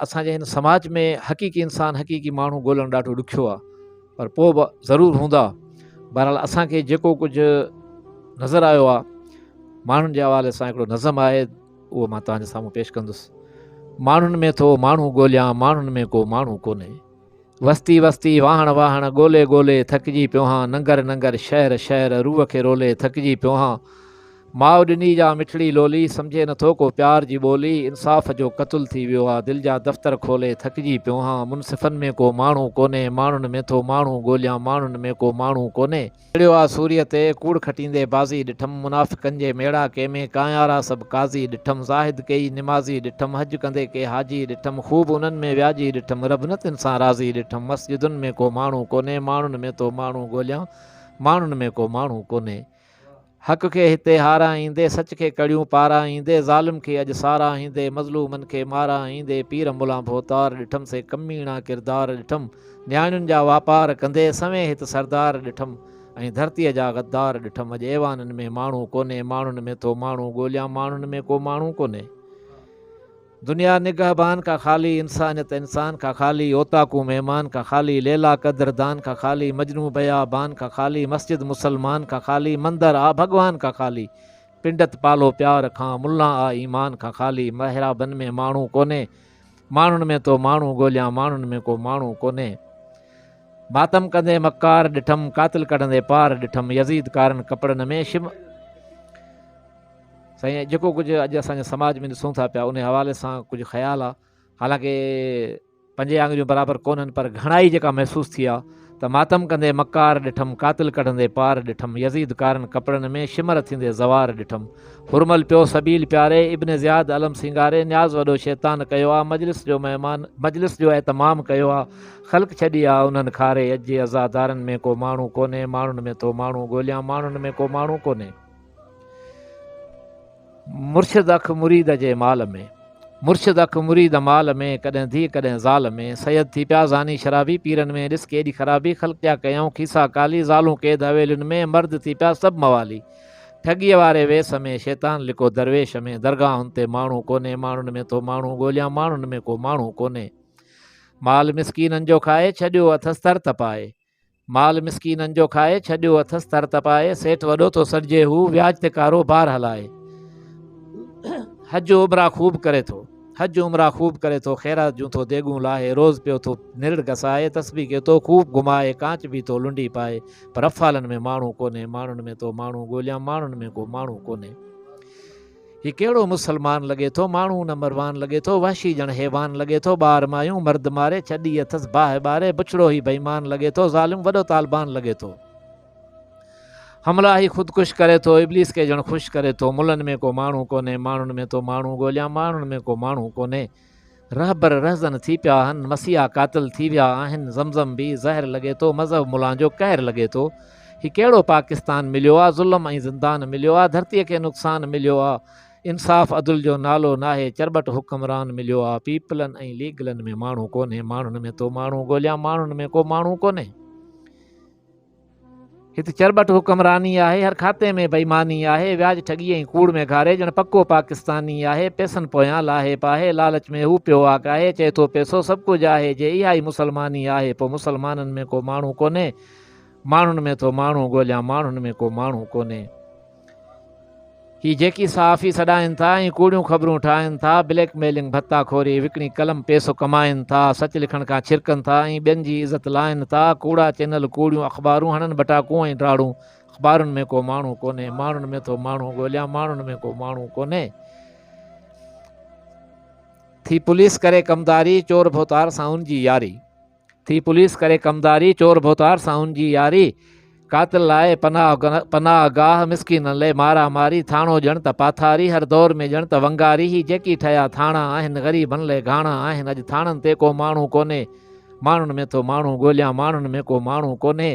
اسان جي هن سماج ۾ حقيقي انسان حقيقي ماڻهو ڳولڻ ڏاڍو ڏکيو آ پر پوء به ضرور هوندا بهرحال اسان کي جيڪو ڪجهه نظر آيو آ ماڻهن جي حوالي سان هڪڙو نظم آهي اهو مان توهان جي سامهون پيش ڪندس ماڻهن ۾ ٿو ماڻهو ڳوليان ماڻهن ۾ ڪو ماڻهو ڪونهي وستي وستي، واهڻ واهڻ، ڳولي ڳولي، ٿڪجي پيو هان، ننگر ننگر، شهر شهر، روح کي رولي، ٿڪجي پيو هان. ماء ڏني جا مٺڙي لولي، سمجهي نٿو ڪو پيار جي ٻولي، انصاف جو قتل ٿي ويو آ، دل جا دفتر کولي، ٿڪجي پيو هان. منصفن ۾ ڪو ماڻهو ڪونهي، ماڻهن ۾ ٿو ماڻهو ڳوليان، ماڻهن ۾ ڪو ماڻهو ڪونهي. چڙهيو آ سوريء تي، ڪوڙ کٽيندي بازي ڏٺم، منافقن جي ميڙاڪي ۾ ڪانئارا سڀ قاضي ڏٺم، زاهد ڪيئي نمازي ڏٺم، حج ڪندي ڪي حاجي ڏٺم، خوب انهن ۾ وياجي ڏٺم، رب نه تن سان راضي ڏٺم، مسجدن ۾ ڪو ماڻهو ڪونهي، ماڻهن ۾ ٿو ماڻهو ڳوليان، ماڻهن ۾ ڪو ماڻهو ڪونهي. حق کي هتي هاراهيندي، سچ کي ڪڙيون پاراهيندي، ظالم کي اڄ ساراهيندي، مظلومن کي ماراهيندي، پير ملان ڀوتار ڏٺم، سي ڪميڻا ڪردار ڏٺم، نياڻين جا واپار ڪندي، سوين هت سردار ڏٺم، ۽ ڌرتيء جا غدار ڏٺم، اڄ ايوانن ۾ ماڻهو ڪونهي، ماڻهن ۾ ٿو ماڻهو ڳوليان، ماڻهن ۾ ڪو ماڻهو ڪونهي. دنيا نگهبان کا خالي انسانيت انسان کا خالي اوطاقون مهمان کا خالي ليلا قدر دان کا خالي مجنون بيابان کا خالي مسجد مسلمان کا خالي مندر آ ڀڳوان کا خالي پنڊت پالو پيار کان ملان آ ايمان کان خالي محرابن ۾ ماڻهو ڪونهي ماڻهن ۾ تو ماڻهو ڳوليان ماڻهن ۾ ڪو ماڻهو ڪونهي ماتم ڪندي مڪار ڏٺم قاتل ڪڍندي پار ڏٺم يزيد ڪارن ڪپڙن ۾ شم سائين جيڪو ڪجهه اڄ اسان جي سماج ۾ ڏسون ٿا پيا ان حوالي سان ڪجهه خيال آ حالانڪه پنجين آڱريون برابر ڪونهن پر گهڻائي جيڪا محسوس ٿي آ ته ماتم ڪندي مڪار ڏٺم قاتل ڪڍندي پار ڏٺم يزيد ڪارن ڪپڙن ۾ شمر ٿيندي زوار ڏٺم هرمل پيو سبيل پياري ابن زياد علم سينگاري نياز وڏو شيطان ڪيو آ مجلس جو مهمان مجلس جو اهتمام ڪيو آ خلق ڇڏي آ انهن کاري اڄ جي عزادارن ۾ ڪو ماڻهو ڪونهي ماڻهن ۾ ٿو ماڻهو ڳوليان ماڻهن ۾ ڪو ماڻهو ڪونهي مرشد اک مريد جي مال ۾. مرشد اک مريد مال ۾، ڪڏهن ڌيء ڪڏهن زال ۾، سيد ٿي پيا زاني شرابي پيرن ۾، ڏس ڪيڏي خرابي، خلق جا ڪيائون کيسا ڪالي، زالون قيد حويلين ۾، مرد ٿي پيا سڀ موالي، ٺڳيء واري ويس ۾، شيطان لڪو درويش ۾، درگاهن تي ماڻهو ڪونهي، ماڻهن ۾ ٿو ماڻهو ڳوليان، ماڻهن ۾ ڪو ماڻهو ڪونهي، مال مسڪينن جو کائي، ڇڏيو اٿس تر تپائي. مال مسڪينن جو کائي، ڇڏيو اٿس تر تپائي، سيٺ وڏو ٿو سڏجي هو، وياج تي ڪارو بار هلائي. حج عمرا خوب ڪري ٿو حج عمرا خوب ڪري ٿو خيرات جون ٿو ديگون لاهي روز پيو ٿو نرڙ گسائي تسبيح کي تو خوب گهمائي ڪانچ به ٿو لنڊي پائي پر افعالن ۾ ماڻهو ڪونهي ماڻهن ۾ تو ماڻهو ڳوليان ماڻهن ۾ ڪو ماڻهو ڪونهي هي ڪهڙو مسلمان لڳي ٿو، ماڻهو نه مروان لڳي ٿو، وحشي ڄڻ حيوان لڳي ٿو، ٻار مايون مرد ماري، ڇڏي اٿس باهه ٻاري، بڇڙو هي بيمان لڳي ٿو، ظالم وڏو طالبان لڳي ٿو. حملا هي خود ڪش ڪري ٿو، ابليس کي ڄڻ خوش ڪري ٿو، ملن ۾ ڪو ماڻهو ڪونهي، ماڻهن ۾ ٿو ماڻهو ڳوليان، ماڻهن ۾ ڪو ماڻهو ڪونهي. رهبر رهزن ٿي پيا آهن مسيحا قاتل ٿي ويا آهن زمزم بي زهر لڳي ٿو مذهب ملان جو قهر لڳي ٿو هي ڪهڙو پاڪستان مليو آ ظلم ۽ زندان مليو آ ڌرتي کي نقصان مليو آ انصاف عدل جو نالو ناهي چرٻٽ حڪمران مليو آ پيپلن ۽ ليگلن ۾ ماڻهو ڪونهي ماڻهن ۾ ٿو ماڻهو ڳوليان ماڻهن ۾ ڪو ماڻهو ڪونهي هت چرٻٽ حڪمراني آهي، هر کاتي ۾ بيماني آهي، وياج ٺڳي ۽ ڪوڙ ۾ گهاري، ڄڻ پڪو پاڪستاني آهي، پئسن پويان لاهيپ آهي، لالچ ۾ هو پيو واڪ آهي، چئي ٿو پئسو سڀ ڪجهه آهي، جي اها ئي مسلماني آهي، پوء مسلمانن ۾ ڪو ماڻهو ڪونهي، ماڻهن ۾ ٿو ماڻهو ڳوليان، ماڻهن ۾ ڪو ماڻهو ڪونهي. هي جيڪي صحافي سڏائين ٿا ۽ ڪوڙيون خبرون ٺاهن ٿا، بليڪ ميلنگ، ڀتا خوري، وڪڻي قلم پيسو ڪمائين ٿا، سچ لکڻ کان ڇرڪن ٿا ۽ ٻين جي عزت لائين ٿا، ڪوڙا چينل، ڪوڙيون اخبارون، هڻن ٻٽاڪون ۽ ڊاڙون، اخبارن ۾ ڪو ماڻهو ڪونهي، ماڻهن ۾ ٿو ماڻهو ڳوليان، ماڻهن ۾ ڪو ماڻهو ڪونهي. ٿي پوليس ڪري ڪمداري، چور ڀوتار سان ان جي ياري. ٿي پوليس ڪري ڪمداري، چور ڀوتار سان هن جي ياري، قاتل لاء پناهه گاهه، مسڪينن لئي مارا ماري، ٿاڻو ڄڻ ته پاٿاري، هر دور ۾ ڄڻ ته ونگاري، هي جيڪي ٺهيا ٿاڻا آهن، غريبن لئي گهاڻا آهن، اڄ ٿاڻن تي ڪو ماڻهو ڪونهي، ماڻهن ۾ ٿو ماڻهو ڳوليان، ماڻهن ۾ ڪو ماڻهو ڪونهي.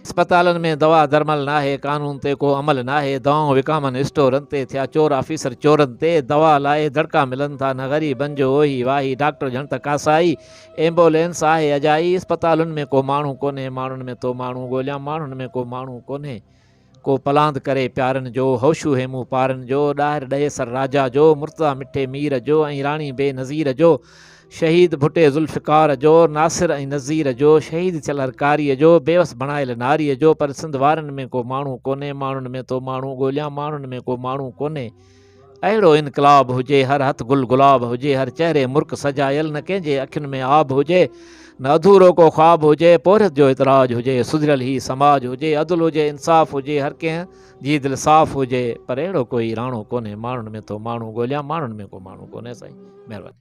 اسپتالن ۾ دوا درمل ناهي، قانون تي ڪو عمل ناهي، دوائون وڪامن اسٽورن تي ٿيا چور آفيسر چورن تي دوا لاء دڙڪا ملن ٿا نه غريبن جو اوهي واهي ڊاڪٽر ڄڻ ته ڪاسائي ايمبولينس آهي اجائي اسپتالن ۾ ڪو ماڻهو ڪونهي ماڻهن ۾ ٿو ماڻهو ڳوليان ماڻهن ۾ ڪو ماڻهو ڪونهي ڪو پلاند ڪري پيارن جو، هوشو هيمون پارن جو، ڏاهر ڏئي سر راجا جو، مرتضيٰ مٺي مير جو ۽ راڻي بي نظير جو، شهيد ڀٽي ذوالفقار جو، ناصر ۽ نذير جو، شهيد چلهر ڪاريء جو، بيوس بڻايل ناريء جو، پر سنڌ وارن ۾ ڪو ماڻهو ڪونهي، ماڻهن ۾ ٿو ماڻهو ڳوليان، ماڻهن ۾ ڪو ماڻهو ڪونهي. اهڙو انقلاب هجي هر هٿ گل گلاب هجي هر چهري مرڪ سجايل نه ڪنهن جي اکين ۾ آب هجي نه اڌورو ڪو خواب هجي پورهيت جو اعتراج هجي سڌريل هي سماج هجي عدل هجي انصاف هجي هر ڪنهن جي دل صاف هجي پر اهڙو ڪوئي راڻو ڪونهي ماڻهن ۾ ٿو ماڻهو ڳوليان ماڻهن ۾ ڪو ماڻهو ڪونهي سائين مهرباني